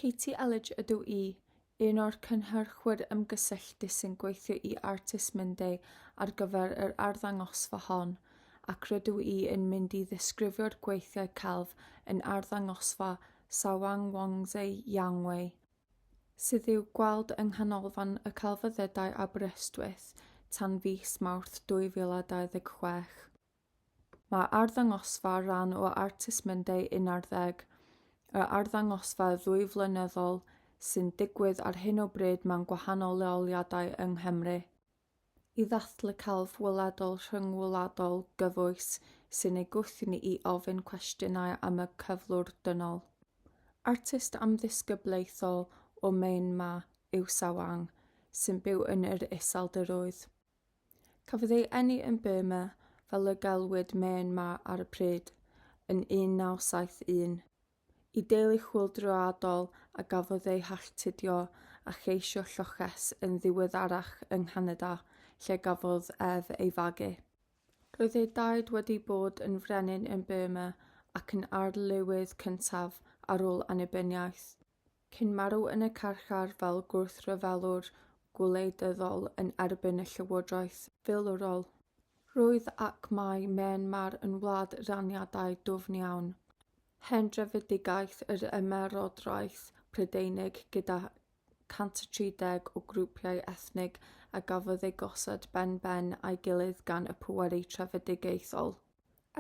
Katie Elledge ydw i, un o'r cynhyrchwyr ymgysylltu sy'n gweithio i Artists Monday ar gyfer yr arddangosfa hon, ac rydw i yn mynd i ddisgrifio'r gweithiau celf yn arddangosfa Sawang Wangzhe Yangwei, sydd i'w gweld yng Nghanolfan y Celfyddydau Aberystwyth tan fis Mawrth 2026. Mae arddangosfa rhan o Artist Monday 11, y arddangosfa ddwy flynyddol sy'n digwydd ar hyn o bryd mewn gwahanol leoliadau yng Nghymru, i ddathlu celf weledol rhyngwladol gyfoes sy'n ei gwthio ni i ofyn cwestiynau am y cyflwr dynol. Artist amlddisgyblaethol o Myanmar yw Sawang, sy'n byw yn yr Iseldiroedd. Cafodd ei eni yn Burma, fel y galwyd Myanmar ar y pryd, yn 1971, i deulu chwyldroadol a gafodd eu halltudio a cheisio lloches yn ddiweddarach yng Nghanada lle gafodd ef ei fagu. Roedd ei daid wedi bod yn frenin yn Burma ac yn arlywydd cyntaf ar ôl annibyniaeth. cyn marw yn y carchar fel gwrthryfelwr gwleidyddol yn erbyn y llywodraeth filwrol. Roedd ac mae Myanmar yn wlad raniadau dwfn iawn. Hen drefedigaeth yr Ymerodraeth Prydeinig gyda 130 o grwpiau ethnig a gafodd eu gosod ben-ben â'i gilydd gan y pwerau trefedigaethol.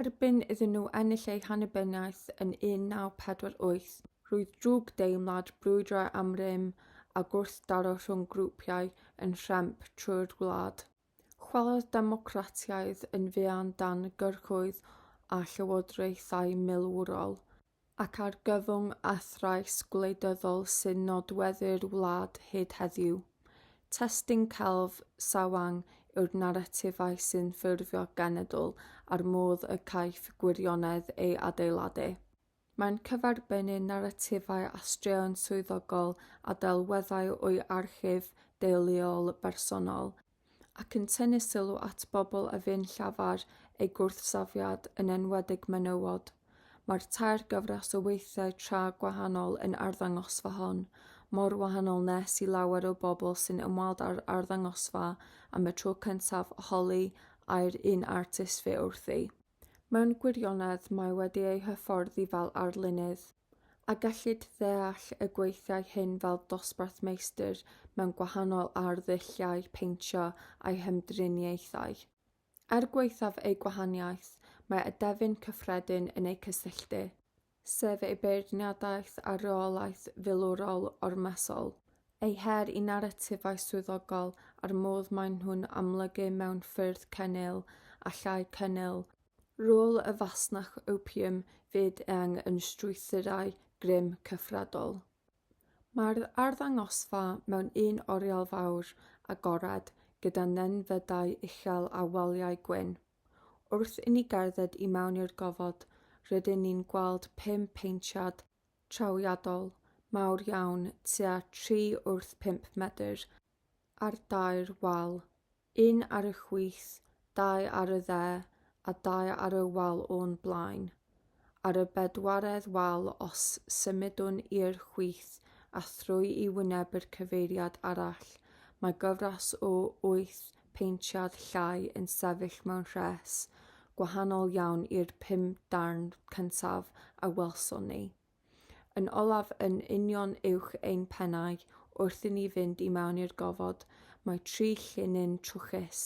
Erbyn iddyn nhw ennill eu hannibyniaeth yn 1948, roedd drwg deimlad brwydrau am rym a gwrthdaro rhwng grwpiau yn nhremp trwy'r wlad. Chwalodd democratiaid yn fuan dan gyrchoedd a llywodraethau milwrol. ac argyfwng a thrais gwleidyddol sy'n nodweddu'r wlad hyd heddiw. Testun celf Sawang yw'r naratifau sy'n ffurfio genedl a'r modd y caiff gwirionedd ei adeiladu. Mae'n cyferbynnu naratifau a straeon swyddogol a delweddau o'i archif deuluol bersonol, ac yn tynnu sylw at bobl a fu'n llafar eu gwrthsafiad, yn enwedig menywod. Mae'r tair gyfres o weithiau tra gwahanol yn arddangosfa hon, mor wahanol nes i lawer o bobl sy'n ymweld â'r arddangosfa am y tro cyntaf holi ai'r un artist fu wrthi. Mewn gwirionedd mae wedi ei hyfforddi fel arlunydd. A gellid ddeall y gweithiau hyn fel dosbarth meistr mewn gwahanol arddulliau peintio a'i hymdriniaethau? Er gwaethaf eu gwahaniaeth, mae adefyn cyffredin yn eu cysylltu, sef eu beirniadaeth a reolaeth filwrol ormesol, eu her i naratifau swyddogol a'r modd maen nhw'n amlygu mewn ffyrdd cennil a llai cennil Rôl y fasnach opium fyd eang yn strwythurau grym cyfredol. Mae'r arddangosfa mewn un oriel fawr, agored, gyda nenfydau uchel a waliau gwyn. Wrth i ni gerdded i mewn i'r gofod, rydyn ni'n gweld pum paentiad trawiadol, mawr iawn, tua tri wrth pump medr, ar dair wal, un ar y chwith, dau ar y dde, a dau ar y wal o'n blaen. Ar y bedwaredd wal os symudwn i'r chwith a thrwy i wyneb yr cyfeiriad arall, mae gyfres o wyth peintiad llai yn sefyll mewn rhes, gwahanol iawn i'r pum darn cyntaf a welson ni. Yn olaf yn union uwch ein pennau, wrth i ni fynd i mewn i'r gofod, mae tri llinyn trwchus,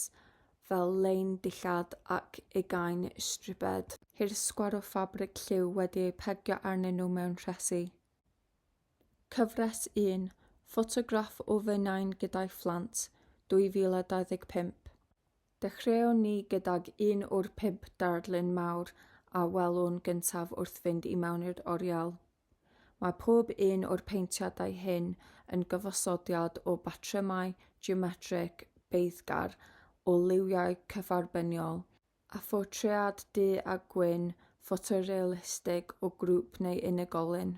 fel lein dillad ac ugain stribed. Hirsgwar o ffabrig lliw wedi eu pegio arnyn nhw mewn rhesi. Cyfres 1, ffotograff o fy nain gyda'i phlant, 2025. Dechreuon ni gydag un o'r pump darlun mawr a welwn gyntaf wrth fynd i mewn i'r oriel. Mae pob un o'r peintiadau hyn yn gyfosodiad o batrymau geometreg beiddgar o liwiau cyfarbyniol, a phortread du a gwyn ffotorealistig o grŵp neu unigolyn.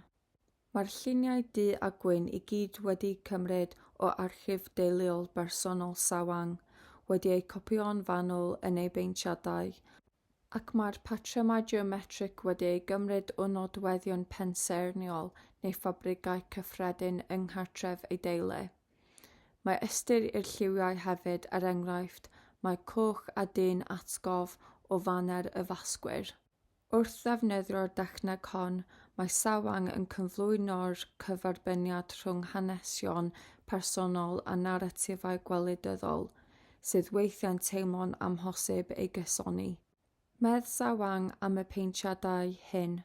Mae'r lluniau du a gwyn i gyd wedi cymryd o archif deuluol bersonol Sawang, wedi eu copïo'n fanwl yn ei beintiadau, ac mae'r patrymau geometrig wedi eu gymryd o nodweddion pensaernïol neu ffabrigau cyffredin yng nghartref ei deulu. Mae ystyr i'r lliwiau hefyd, er enghraifft, mae coch a du'n atgof o faner y Fasgwyr. Wrth ddefnyddio'r dechneg hon, mae Sawang yn cyflwyno'r cyferbyniad rhwng hanesion personol a naratifau gwleidyddol, sydd weithiau'n teimlo'n amhosib ei gysoni. Medd Sawang am y paentiadau hyn,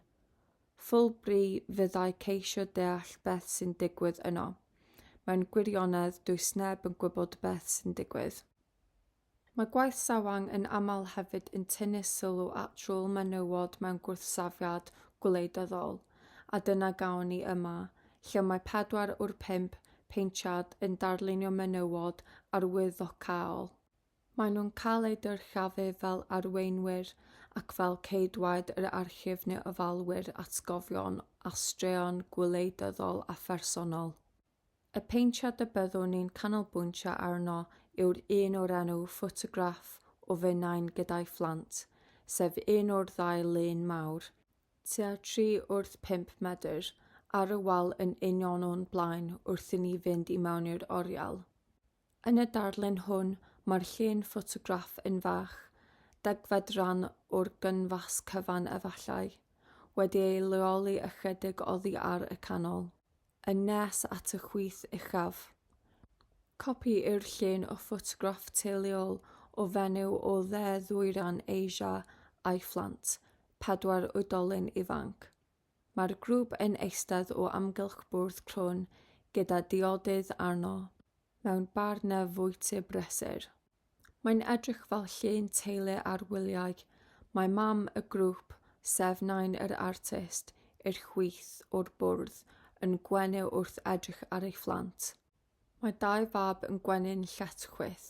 Fulbury fyddai ceisio deall beth sy'n digwydd yno. Mewn gwirionedd, does neb yn gwybod beth sy'n digwydd. Mae gwaith Sawang yn aml hefyd yn tynnu sylw at rôl menywod mewn gwrthsafiad gwleidyddol, a dyna gawn ni yma, lle mae pedwar o'r pump paentiad yn darlunio menywod arwyddocaol. Maen nhw'n cael eu dyrchafu fel arweinwyr ac fel ceidwaid yr archif neu ofalwyr atgofion a straeon gwleidyddol a phersonol. Y paentiad y byddwn ni'n canolbwyntio arno yw'r un o'r enw Ffotograff o Finnau gyda'i Phlant, sef un o'r ddau lun mawr, tua tri wrth pump medr, ar y wal yn union o'n blaen wrth i ni fynd i mewn i'r oriel. Yn y darlun hwn, mae'r llun ffotograff yn fach, degfed ran o'r gynfas cyfan efallai, wedi ei leoli ychydig oddi ar y canol, yn nes at y chwith uchaf. Copi yw'r llun o ffotograff teuluol o fenyw o Dde Ddwyran Asia a'i phlant, pedwar oedolyn ifanc. Mae'r grŵp yn eistedd o amgylch bwrdd crwn gyda diodydd arno, mewn bar neu fwyty brysur. Mae'n edrych fel llun teulu ar wyliau, mae mam y grŵp, sef nain yr artist, i'r chwith o'r bwrdd, yn gwenu wrth edrych ar ei phlant. Mae dau fab yn gwenyn lletchwith,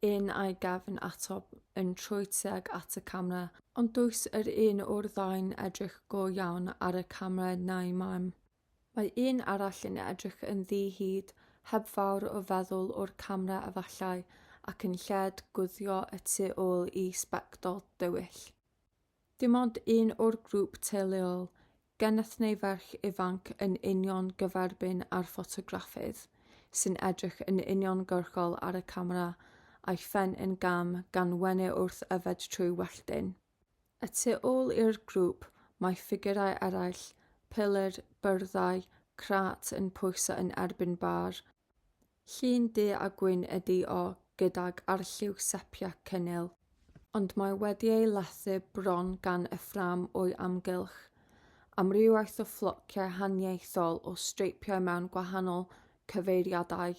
un a'i gefn ato yn trwy tuag at y camera, ond does yr un o'r ddau'n edrych go iawn ar y camera na'i mam. Mae un arall yn edrych yn ddi-hid, heb fawr o feddwl o'r camera efallai, ac yn lled guddio y tu ôl i sbectol dywyll. Dim ond un o'r grŵp teuluol, geneth neu ferch ifanc yn union gyferbyn â'r ffotograffydd, sy'n edrych yn uniongyrchol ar y camera, a'i phen yn gam gan wenu wrth yfed trwy welltyn. Y tu ôl i'r grŵp, mae ffigurau eraill, pilyr, byrddau, crât yn pwyso yn erbyn bar, Llun du a gwyn ydi o gydag arlliw sepia cynnil, ond mae wedi ei lethu bron gan y ffrâm o'i amgylch. Amrywiaeth o fflociau haniaethol o streipiau mewn gwahanol cyfeiriadau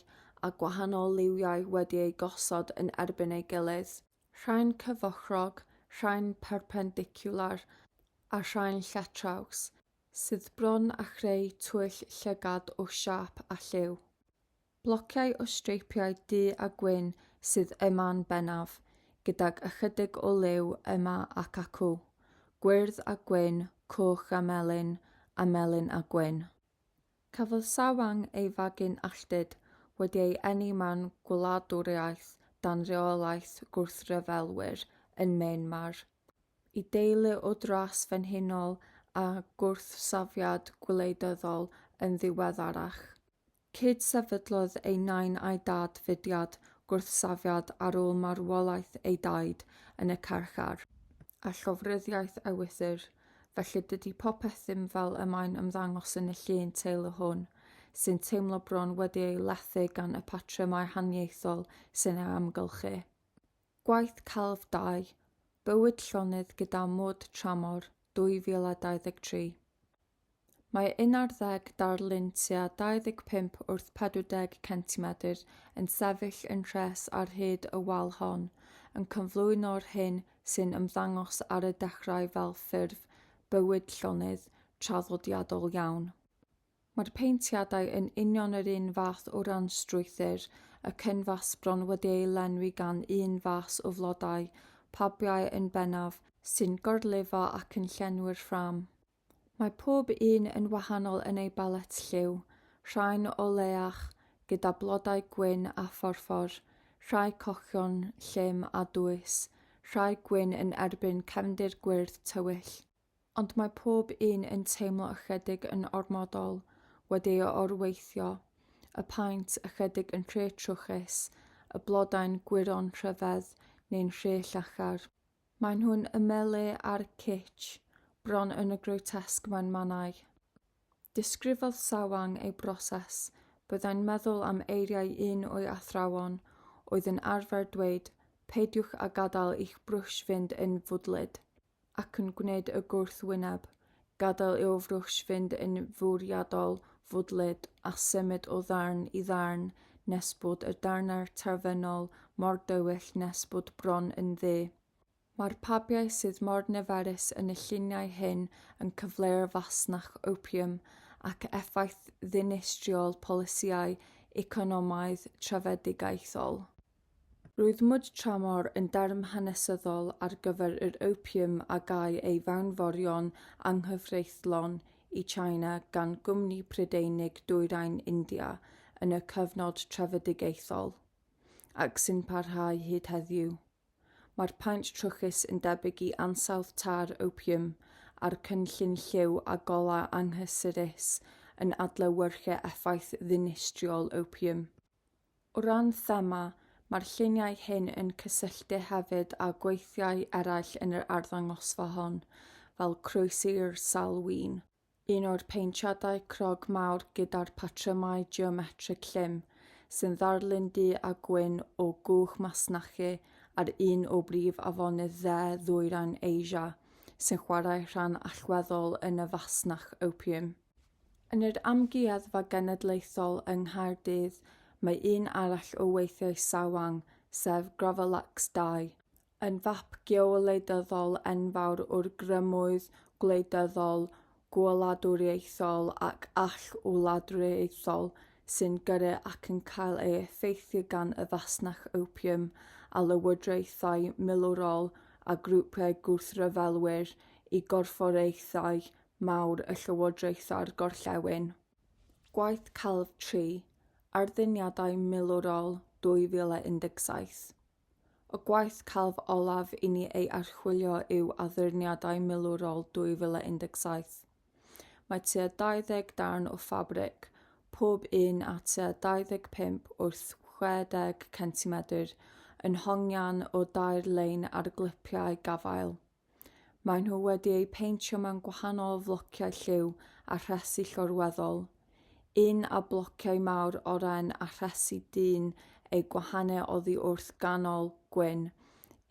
a gwahanol liwiau wedi eu gosod yn erbyn ei gilydd. Rhain cyfochrog, rhain perpendicwlar a rhain lletraws. sydd bron â chreu twyll llygad o siâp a lliw. Blociau o streipiau du a gwyn sydd yma'n bennaf, gydag ychydig o liw yma ac acw, gwyrdd a gwyn, coch a melyn, a melyn a gwyn. Cafodd Sawang ei fagu'n alltud wedi ei eni mewn gwladwriaeth dan reolaeth gwrthryfelwyr yn Myanmar. Y deulu o drais frenhinol a gwrthsafiad gwleidyddol yn ddiweddarach. Cyd-sefydlodd ei nain a'i dad fudiad gwrthsafiad ar ôl marwolaeth ei daid yn y carchar. A llofruddiaeth ewythr. Felly dydy popeth ddim fel y mae'n ymddangos yn y llun teulu hwn, sy'n teimlo bron wedi ei lethu gan y patrymau haniaethol sy'n ei amgylchu. Gwaith Celf Dau, Bywyd Llonydd gyda Mwd Tramor, 2023. Mae 11 darlun tua 25 wrth 40 centimedr yn sefyll yn rhes ar hyd y wal hon, yn cyflwyno'r hyn sy'n ymddangos ar y dechrau fel ffurf bywyd llonydd traddodiadol iawn. Mae'r paentiadau yn union yr un fath o ran strwythur, y cynfas bron wedi ei lenwi gan un fas o flodau, pabiau yn bennaf, sy'n gorlifo ac yn llenwi'r ffrâm. Mae pob un yn wahanol yn ei balet lliw, rhai'n oleach, gyda blodau gwyn a phorffor, rhai cochion, llym a dwys, rhai gwyn yn erbyn cefndir gwyrdd tywyll. Ond mae pob un yn teimlo ychydig yn ormodol wedi ei orweithio, y paent ychydig yn rhy trwchus, y blodau'n gwyro'n rhyfedd neu'n rhy llachar. Maen nhw'n ymylu ar kitsch, bron yn y grotesque mewn mannau. Disgrifodd Sawang ei broses, Byddai'n meddwl am eiriau un o'i athrawon oedd yn arfer dweud, 'Peidiwch â gadael i'ch brwsh fynd yn fwdlyd. ac yn gwneud y gwrthwyneb, gadael i'w frwsh fynd yn fwriadol fwdlyd, a symud o ddarn i ddarn nes bod y darnau terfynol mor dywyll nes bod bron yn ddu. Mae'r pabiau sydd mor niferus yn y lluniau hyn yn cyfleu'r fasnach opium ac effaith ddinistriol polisïau economaidd trefedigaethol. Roedd Mud Tramor yn derm hanesyddol ar gyfer yr opium a gâi ei fewnforio'n anghyfreithlon i China gan gwmni Prydeinig Dwyrain India yn y cyfnod trefedigaethol, ac sy'n parhau hyd heddiw. Mae'r paent trwchus yn debyg i ansawdd târ opium, a'r cynllun lliw a golau anghysurus yn adlewyrchu effaith ddinistriol opium. O ran thema, mae'r lluniau hyn yn cysylltu hefyd â gweithiau eraill yn yr arddangosfa hon, fel Croesi'r Sawl Win, un o'r paentiadau crog mawr gyda'r patrymau geometrig llym, sy'n ddarlun du a gwyn o gwch masnachu ar un o brif afonydd dde ddwyrain Asia, sy'n chwarae rhan allweddol yn y fasnach opiwm. Yn yr Amgueddfa Genedlaethol yng Nghaerdydd mae un arall o weithiau Sawang, sef Gravalax ii, yn fap geowleidyddol enfawr o'r grymoedd gwleidyddol, gwladwriaethol ac all-wladwriaethol sy'n gyrru ac yn cael ei effeithio gan y fasnach opiwm a lywodraethau milwrol a grwpiau gwrthryfelwyr i gorfforaethau mawr y Llywodraethau'r Gorllewin, gwaith celf tri arddyniadau milwrol 2017. Y gwaith celf olaf i ni ei archwilio yw addurniadau milwrol 2017. Mae tua 20 darn o ffabrig, pob un â tua 25 wrth 60 centimedr, yn hongian o dair lein ar glipiau gafael. Maen nhw wedi eu peintio mewn gwahanol flociau lliw a rhesi llorweddol, un a blociau mawr oren a rhesi dyn eu gwahanu oddi wrth ganol gwyn,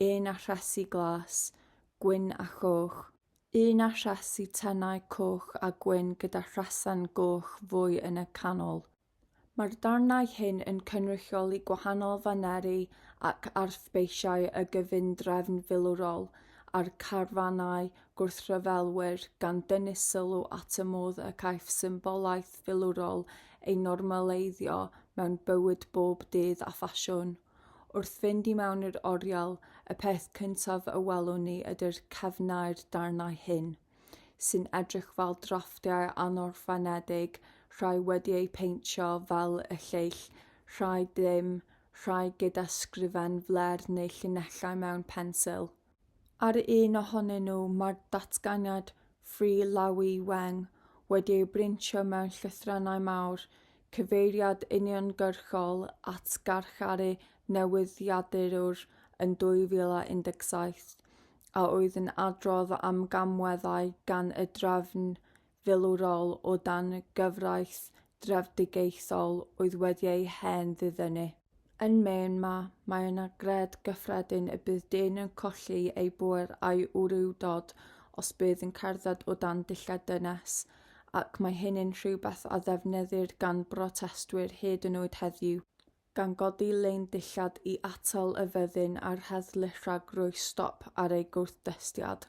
un a rhesi glas, gwyn a choch, un a rhesi tenau coch a gwyn gyda rhesen goch fwy yn y canol. Mae'r darnau hyn yn cynrychioli gwahanol faneri ac arfbeisiau y gyfundrefn filwrol a'r carfanau gwrthryfelwyr, gan dynnu sylw at y modd y caiff symbolaeth filwrol ei normaleiddio mewn bywyd bob dydd a ffasiwn. Wrth fynd i mewn i'r oriel, y peth cyntaf y welwn ni ydy'r cefnau'r darnau hyn. sy'n edrych fel drafftiau anorffenedig, rhai wedi eu peintio fel y lleill, rhai ddim, rhai gyda sgrifen fler neu llinellau mewn pensil. Ar un ohonyn nhw mae'r datganiad Free Lawi Weng wedi ei brintio mewn llythrennau mawr, cyfeiriad uniongyrchol at garcharu newyddiadurwr yn 2017. a oedd yn adrodd am gamweddau gan y drefn filwrol o dan gyfraith drefedigaethol oedd wedi ei hen ddiddynu. Yn Maine ma, mae yna gred gyffredin y bydd dyn yn colli ei bŵer a'i wrywdod os bydd yn cerdded o dan dillad dynes, ac mae hynny'n rhywbeth a ddefnyddir gan brotestwyr hyd yn oed heddiw. gan godi lein dillad i atal y fyddin a'r heddlu rhag rhoi stop ar eu gwrthdestiad.